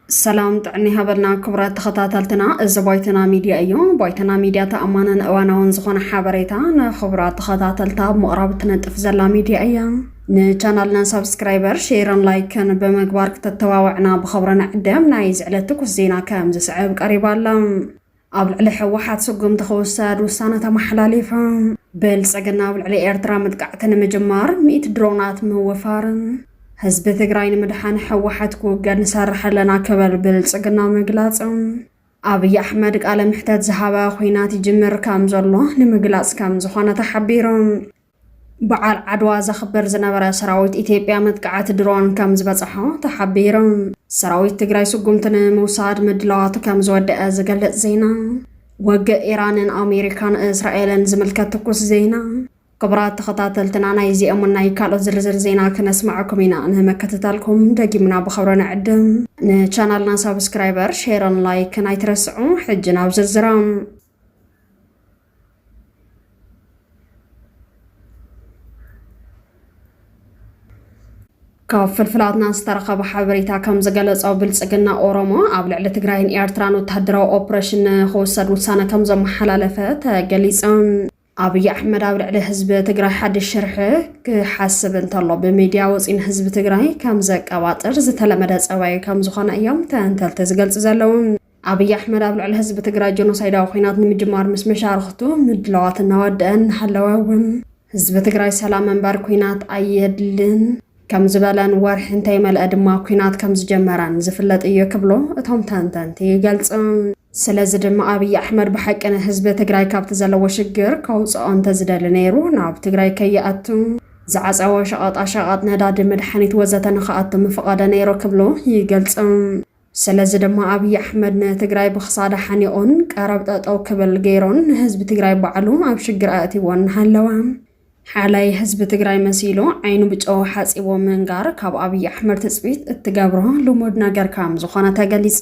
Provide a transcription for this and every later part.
ሰላም ጥዕና ሃበልና ክቡራት ተኸታተልትና፣ እዚ ባይተና ሚድያ እዩ። ባይተና ሚድያ ተኣማንን እዋናውን ዝኾነ ሓበሬታ ንክቡራት ተኸታተልታ ኣብ ምቕራብ ትነጥፍ ዘላ ሚድያ እያ። ንቻናልና ሳብስክራይበር ሼርን ላይክን ብምግባር ክተተባብዕና ብኸብሪ ንዕደም። ናይ ዝዕለት ትኩስ ዜና ከም ዝስዕብ ቀሪባ ኣላ። ኣብ ልዕሊ ህወሓት ስጉምቲ ክውሰድ ውሳነ ተመሓላሊፉ። ብልፅግና ኣብ ልዕሊ ኤርትራ መጥቃዕቲ ንምጅማር ሚእቲ ድሮናት ምውፋርን ህዝቢ ትግራይ ንምድሓን ህወሓት ክውገድ ንሰርሕ ኣለና ክብል ብልፅግና ምግላፅ ኣብይ ኣሕመድ ቃለ ምሕተት ዝሃበ ኩናት ይጅምር ከም ዘሎ ንምግላፅ ከም ዝኾነ ተሓቢሩ። በዓል ዓድዋ ዘኽብር ዝነበረ ሰራዊት ኢትዮጵያ መጥቃዕቲ ድሮን ከም ዝበፅሖ ተሓቢሩ። ሰራዊት ትግራይ ስጉምቲ ንምውሳድ ምድላዋቱ ከም ዝወደአ ዝገልፅ ዜና። ወግእ ኢራንን ኣሜሪካን እስራኤልን ዝምልከት ትኩስ ዜና። ክቡራት ተኸታተልትና ናይ እዚኦምን ናይ ካልኦት ዝርዝር ዜና ክነስማዕኩም ኢና። ንምክትታልኩም ደጊምና ብኸብሪ ንዕድም። ንቻናልና ሳብስክራይበር፣ ሼርን ላይክን ኣይትረስዑ። ሕጂ ናብ ዝርዝሮም። ካብ ፍልፍላትና ዝተረኸበ ሓበሬታ ከም ዝገለጾ ብልጽግና ኦሮሞ ኣብ ልዕሊ ትግራይን ኤርትራን ወተሃደራዊ ኦፕሬሽን ንክውሰድ ውሳነ ከም ዘመሓላለፈ ተገሊጹ። ኣብይ ኣሕመድ ኣብ ልዕሊ ህዝቢ ትግራይ ሓድሽ ሽርሒ ክሓስብ እንተሎ ብሚድያ ወፂኡ ንህዝቢ ትግራይ ከም ዘቀባጥር ዝተለመደ ፀባዩ ከም ዝኾነ እዮም ተንተልቲ ዝገልፁ ዘለዉ። ኣብይ ኣሕመድ ኣብ ልዕሊ ህዝቢ ትግራይ ጀኖሳይዳዊ ኲናት ንምጅማር ምስ መሻርኽቱ ምድላዋት እናወደአ እናሃለወ እውን ህዝቢ ትግራይ ሰላም እምበር ኲናት ኣየድልን ከም ዝበለን ወርሒ እንተይመልኣ ድማ ኲናት ከም ዝጀመረን ዝፍለጥ እዩ ክብሉ እቶም ተንተንቲ ይገልጹ። ስለዚ ድማ ኣብይ ኣሕመድ ብሓቂ ንህዝቢ ትግራይ ካብቲ ዘለዎ ሽግር ከውጽኦ እንተዝደሊ ነይሩ ናብ ትግራይ ከይኣቱ፣ ዝዓጸወ ሸቐጣሸቐጥ፣ ነዳዲ፣ መድሓኒት ወዘተ ንኽኣቱ ምፈቐደ ነይሩ ክብሉ ይገልጹ። ስለዚ ድማ ኣብይ ኣሕመድ ንትግራይ ብኽሳዳ ሓኒቑን ቀረብ ጠጠው ክብል ገይሩን ንህዝቢ ትግራይ ባዕሉ ኣብ ሽግር ኣእትይዎ እናሃለወ ሓላይ ህዝቢ ትግራይ መሲሉ ዓይኑ ብጨው ሓፂቦ ምንጋር ካብ ኣብይ ኣሕመድ ትፅቢት እትገብሮ ልሙድ ነገር ከም ዝኾነ ተገሊፁ።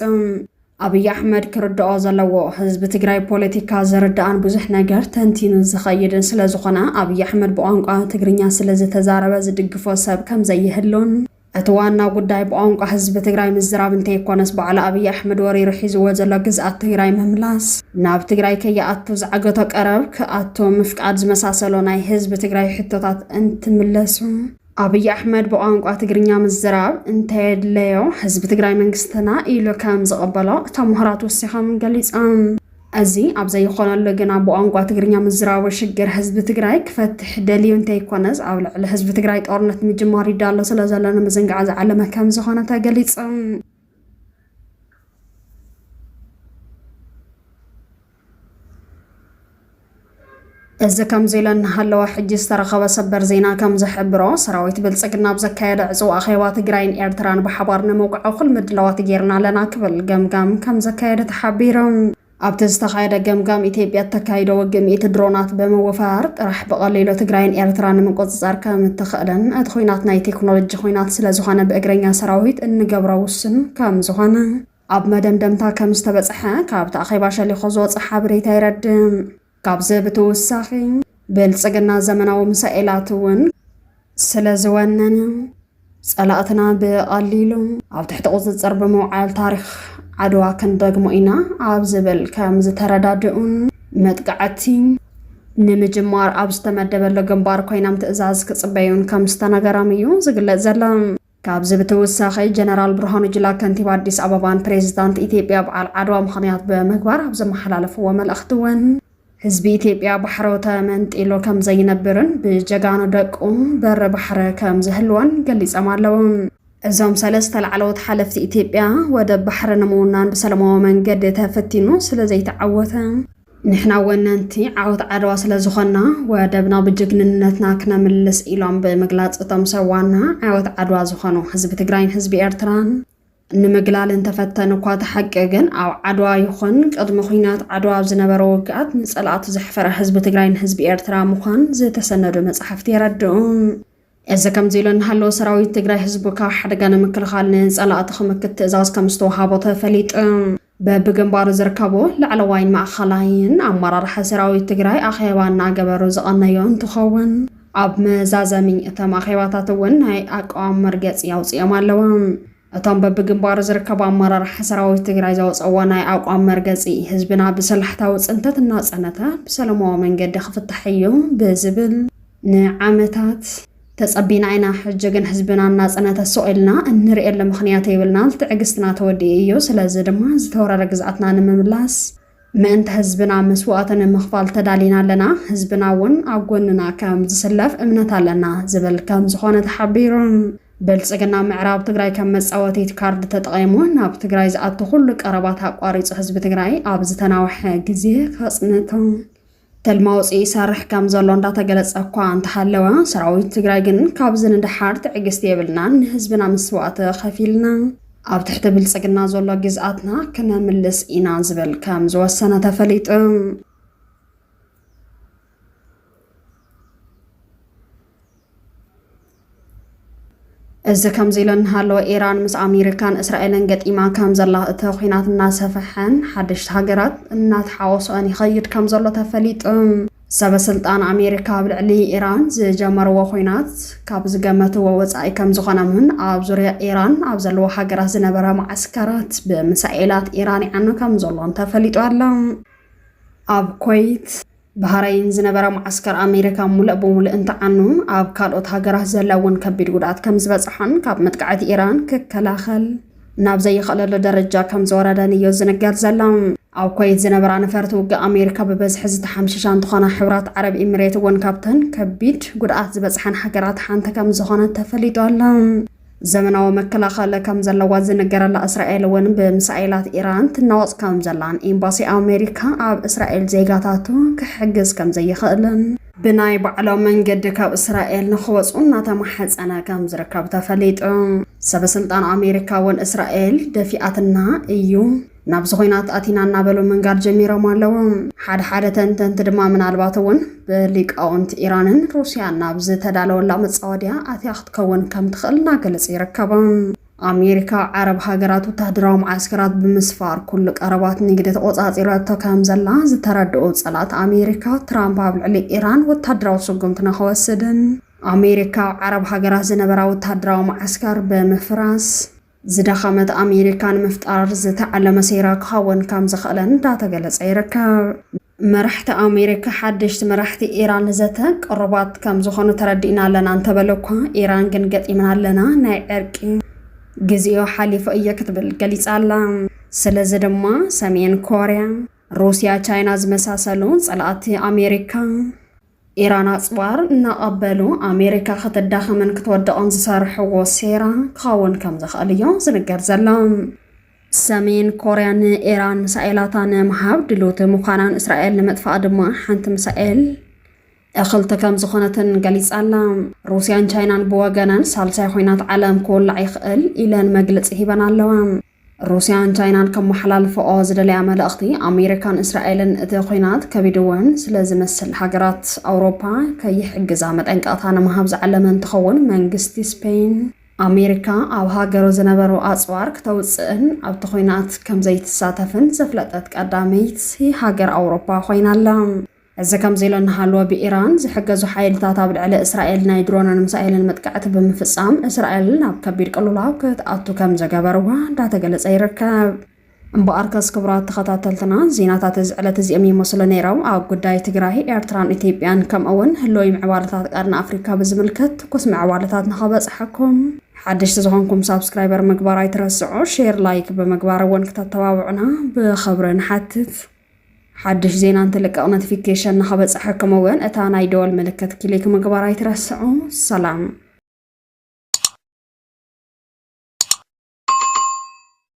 ኣብይ ኣሕመድ ክርድኦ ዘለዎ ህዝቢ ትግራይ ፖለቲካ ዝርዳእን ብዙሕ ነገር ተንቲኑ ዝኸይድን ስለዝኾነ ኣብይ ኣሕመድ ብቋንቋ ትግርኛ ስለዝተዛረበ ዝድግፎ ሰብ ከምዘይህሉን እቲ ዋና ጉዳይ ብቋንቋ ህዝቢ ትግራይ ምዝራብ እንተይኮነስ ባዕሉ ኣብይ ኣሕመድ ወሪሩ ሒዝዎ ዘሎ ግዝኣት ትግራይ ምምላስ፣ ናብ ትግራይ ከይኣቱ ዝዓገቶ ቀረብ ክኣቱ ምፍቃድ ዝመሳሰሉ ናይ ህዝቢ ትግራይ ሕቶታት እንትምለሱ፣ ኣብይ ኣሕመድ ብቋንቋ ትግርኛ ምዝራብ እንተየድለዮ ህዝቢ ትግራይ መንግስትና ኢሉ ከምዝቕበሎ እቶም ምሁራት ወሲኾም ገሊፆም። እዚ ኣብ ዘይኾነሉ ግና ብቋንቋ ትግርኛ ምዝራቡ ሽግር ህዝቢ ትግራይ ክፈትሕ ደልዩ እንተይኮነስ ኣብ ልዕሊ ህዝቢ ትግራይ ጦርነት ምጅማሩ ይዳሎ ስለዘሎ ንምዝንጋዕ ዝዓለመ ከምዝኾነ ተገሊፁ። እዚ ከምዚ ኢለ እናሃለወ ሕጂ ዝተረኸበ ሰበር ዜና ከም ዝሕብሮ ሰራዊት ብልፅግና ኣብ ዘካየደ ዕፅው ኣኼባ ትግራይን ኤርትራን ብሓባር ንምውቃዕ እኹል ምድላዋት ገይርና ኣለና ክብል ገምጋም ከም ዘካየደ ተሓቢሩ። ኣብቲ ዝተኻየደ ገምጋም ኢትዮጵያ እተካይዶ ውግእ ሚእቲ ድሮናት ብምውፋር ጥራሕ ብቐሊሉ ትግራይን ኤርትራን ንምቁፅፃር ከም እትኽእልን እቲ ኹናት ናይ ቴክኖሎጂ ኹናት ስለዝኾነ ብእግረኛ ሰራዊት እንገብሮ ውሱን ከም ዝኾነ ኣብ መደምደምታ ከም ዝተበጽሐ ካብቲ ኣኼባ ሸሊኾ ዝወጸ ሓበሬታ የረድእ። ካብዚ ብትውሳኺ፣ ብልጽግና ዘመናዊ ምሳኤላት እውን ስለ ዝወነነ፣ ጸላእትና ብቐሊሉ ኣብ ትሕቲ ቁጽጽር ብምውዓል ታሪኽ ዓድዋ ክንደግሞ ኢና ኣብ ዝብል ከም ዝተረዳድኡን መጥቃዕቲ ንምጅማር ኣብ ዝተመደበሉ ግንባር ኮይናም ትእዛዝ ክጽበዩን ከም ዝተነገራም እዩ ዝግለጽ ዘሎ። ካብዚ ብተወሳኺ ጀነራል ብርሃኑ ጁላ ከንቲባ ኣዲስ ኣበባን ፕሬዚዳንት ኢትዮጵያ በዓል ዓድዋ ምኽንያት ብምግባር ኣብ ዘመሓላለፍዎ መልእኽቲ እውን ህዝቢ ኢትዮጵያ ባሕሩ ተመንጢሉ ከም ዘይነብርን ብጀጋኑ ደቁ በሪ ባሕሪ ከም ዝህልዎን ገሊፆም ኣለዉ። እዞም ሰለስተ ላዕለዎት ሓለፍቲ ኢትዮጵያ ወደብ ባሕሪ ንምውናን ብሰለማዊ መንገዲ ተፈቲኑ ስለዘይተዓወተ፣ ንሕና ወነንቲ ዓወት ዓድዋ ስለዝኾንና ወደብና ብጅግንነትና ክነምልስ ኢሎም ብምግላፅ እቶም ሰብ ዋና ዓወት ዓድዋ ዝኾኑ ህዝቢ ትግራይን ህዝቢ ኤርትራን ንምግላል እንተፈተኑ እኳ እቲ ሓቂ ግን ኣብ ዓድዋ ይኹን ቅድሚ ኩናት ዓድዋ ኣብ ዝነበረ ውግኣት ንፀላእቱ ዘሕፈረ ህዝቢ ትግራይን ህዝቢ ኤርትራ ምዃን ዝተሰነዱ መፃሕፍቲ የረድኡ። እዚ ከምዚሉ እናሃለወ ሰራዊት ትግራይ ህዝቡ ካብ ሓደጋ ንምክልኻል ንፀላእቲ ክምክት ትእዛዝ ከምዝተውሃቦ ተፈሊጡ። በብግንባሩ ዝርከቡ ላዕለዋይን ማእኸላይን ኣመራርሓ ሰራዊት ትግራይ ኣኼባ እናገበሩ ዝቐነዮ እንትኸውን፣ ኣብ መዛዘሚ እቶም ኣኼባታት እውን ናይ ኣቋም መርገፂ ኣውፂኦም ኣለው። እቶም በብግንባሩ ዝርከቡ ኣመራርሓ ሰራዊት ትግራይ ዘውፀእዎ ናይ ኣቋም መርገፂ ህዝብና ብሰላሕታዊ ፅንተት እናፀነተ ብሰለማዊ መንገዲ ክፍታሕ እዩ ብዝብል ንዓመታት ተጸቢና ኢና ሕጂ ግን ህዝብናን ናጽነተ ሱቕ ኢልና እንርእየሉ ምኽንያት የብልናን ትዕግስትና ተወዲኡ እዩ ስለዚ ድማ ዝተወረረ ግዝኣትና ንምምላስ ምእንተ ህዝብና መስዋእቲ ንምኽፋል ተዳሊና ኣለና ህዝብና ውን ኣብ ጎንና ከም ዝስለፍ እምነት ኣለና ዝብል ከም ዝኾነ ተሓቢሩ። ብልጽግና ምዕራብ ትግራይ ከም መጻወቲት ካርድ ተጠቒሙ ናብ ትግራይ ዝኣቱ ኩሉ ቀረባት ኣቋሪጹ ህዝቢ ትግራይ ኣብ ዝተናውሐ ግዜ ከጽንቶ፣ ትልሚ ኣውፂኢ ይሰርሕ ከም ዘሎ እንዳተገለፀ እኳ እንተሃለወ ሰራዊት ትግራይ ግን ካብዚ ንደሓር ትዕግስቲ የብልናን ንህዝብና ምስዋእቲ ከፊልና ኣብ ትሕቲ ብልፅግና ዘሎ ግዝኣትና ክነምልስ ኢና ዝብል ከም ዝወሰነ ተፈሊጡ። እዚ ከምዚ ኢሉ እንሃለወ ኢራን ምስ ኣሜሪካን እስራኤልን ገጢማ ከም ዘላ እቲ ኩናት እናሰፈሐን ሓደሽቲ ሃገራት እናተሓወሶኦን ይኸይድ ከም ዘሎ ተፈሊጡ። ሰበስልጣን ኣሜሪካ ኣብ ልዕሊ ኢራን ዝጀመርዎ ኩናት ካብ ዝገመትዎ ወፃኢ ከም ዝኾነምን ኣብ ዙርያ ኢራን ኣብ ዘለዎ ሃገራት ዝነበረ ማዓስከራት ብምሳኤላት ኢራን ይዓኑ ከም ዘሎን ተፈሊጡ ኣሎ። ኣብ ኮይት ባህረይን ዝነበረ መዓስከር ኣሜሪካ ሙልእ ብሙልእ እንትዓኑ ኣብ ካልኦት ሃገራት ዘላ እውን ከቢድ ጉድኣት ከም ዝበፅሖን ካብ መጥቃዕቲ ኢራን ክከላኸል ናብ ዘይኽእለሉ ደረጃ ከም ዝወረደን እዩ ዝንገር ዘሎ። ኣብ ኮይት ዝነበራ ነፈርቲ ውግእ ኣሜሪካ ብበዝሒ ዝተሓምሸሻ እንትኾና ሕብራት ዓረብ ኢሚሬት እውን ካብተን ከቢድ ጉድኣት ዝበፅሐን ሃገራት ሓንቲ ከም ዝኾነት ተፈሊጡ ኣሎ። ዘመናዊ መከላኸሊ ከም ዘለዋ ዝንገረላ እስራኤል እውን ብምሳኤላት ኢራን ትናወፅ ከም ዘላን ኤምባሲ ኣሜሪካ ኣብ እስራኤል ዜጋታቱ ክሕግዝ ከም ዘይኽእልን ብናይ ባዕሎም መንገዲ ካብ እስራኤል ንክወፁ እናተማሐፀነ ከም ዝርከብ ተፈሊጡ። ሰበስልጣን ኣሜሪካ እውን እስራኤል ደፊኣትና እዩ፣ ናብዚ ኹናት ኣቲና እናበሉ ምንጋር ጀሚሮም ኣለዉ። ሓደ ሓደ ተንተንቲ ድማ ምናልባት እውን ብሊቃውንቲ ኢራንን ሩስያን ናብ ዝተዳለወላ መጻወድያ ኣትያ ክትከውን ከም ትኽእል እናገለጹ ይርከቡ። ኣሜሪካ ዓረብ ሃገራት ወታሃደራዊ መዓስከራት ብምስፋር ኩሉ ቀረባት ንግዲ ተቖጻጺረቶ ከም ዘላ ዝተረድኡ ጸላት ኣሜሪካ ትራምፕ ኣብ ልዕሊ ኢራን ወታሃደራዊ ስጉምቲ ንኸወስድን ኣሜሪካ ኣብ ዓረብ ሃገራት ዝነበራ ወታሃደራዊ መዓስከር ብምፍራስ ዝደኸመት ኣሜሪካ ንምፍጣር ዝተዓለመ ሴራ ክኸውን ከም ዝኽእለን እንዳተገለጸ ይርከብ። መራሕቲ ኣሜሪካ ሓደሽቲ መራሕቲ ኢራን ዘተ ቅሩባት ከም ዝኾኑ ተረዲእና ኣለና እንተበለ እኳ ኢራን ግን ገጢምና ኣለና ናይ ዕርቂ ግዜኡ ሓሊፉ እየ ክትብል ገሊጻ ኣላ። ስለዚ ድማ ሰሜን ኮርያ፣ ሩስያ፣ ቻይና ዝመሳሰሉ ጸላእቲ ኣሜሪካ ኢራን ኣጽዋር እናቐበሉ ኣሜሪካ ክትዳኸምን ክትወድቕን ዝሰርሕዎ ሴራ ክኸውን ከም ዝኽእል እዮ ዝንገር ዘሎ። ሰሜን ኮርያ ንኢራን ምሳኤላታ ንምሃብ ድልውቲ ምዃናን እስራኤል ንምጥፋእ ድማ ሓንቲ ምሳኤል እኽልቲ ከም ዝኾነትን ገሊጻላ። ሩስያን ቻይናን ብወገነን ሳልሳይ ኹናት ዓለም ክውላዕ ይኽእል ኢለን መግልጺ ሂበን ኣለዋ። ሩስያን ቻይናን ከመሓላልፈኦ ዝደለያ መልእኽቲ፣ ኣሜሪካን እስራኤልን እቲ ኹናት ከቢድወን ስለ ዝመስል ሃገራት ኣውሮፓ ከይሕግዛ መጠንቀቕታ ንምሃብ ዝዓለመ እንትኸውን መንግስቲ ስፔይን፣ ኣሜሪካ ኣብ ሃገሩ ዝነበሩ ኣጽዋር ክተውጽእን ኣብቲ ኹናት ከምዘይትሳተፍን ዘፍለጠት ቀዳመይቲ ሃገር ኣውሮፓ ኾይና ኣላ። እዚ ከምዚሉ እናሃለወ ብኢራን ዝሕገዙ ሓይልታት ኣብ ልዕሊ እስራኤል ናይ ድሮንን ምሳኤልን መጥቃዕቲ ብምፍፃም እስራኤል ናብ ከቢድ ቅልውላው ክትኣቱ ከምዘገበርዋ እንዳተገለፀ ይርከብ። እምበኣርከስ ክቡራት ተኸታተልትና ዜናታት እዚ ዕለት እዚኦም ይመስሉ ነይሮም። ኣብ ጉዳይ ትግራይ፣ ኤርትራን ኢትዮጵያን ከምኡ እውን ህልዊ ምዕባለታት ቀርኒ ኣፍሪካ ብዝምልከት ትኩስ ምዕባለታት ንኸበፅሐኩም ሓደሽቲ ዝኾንኩም ሳብስክራይበር ምግባር ኣይትረስዑ፣ ሼር ላይክ ብምግባር እውን ክተተባብዑና ብኽብሪ ንሓትት። ሓድሽ ዜና እንትልቀቕ ኖቲፊኬሽን ንኸበፅሐኩም እውን እታ ናይ ደወል ምልክት ክሊክ ምግባር ኣይትረስዑ። ሰላም።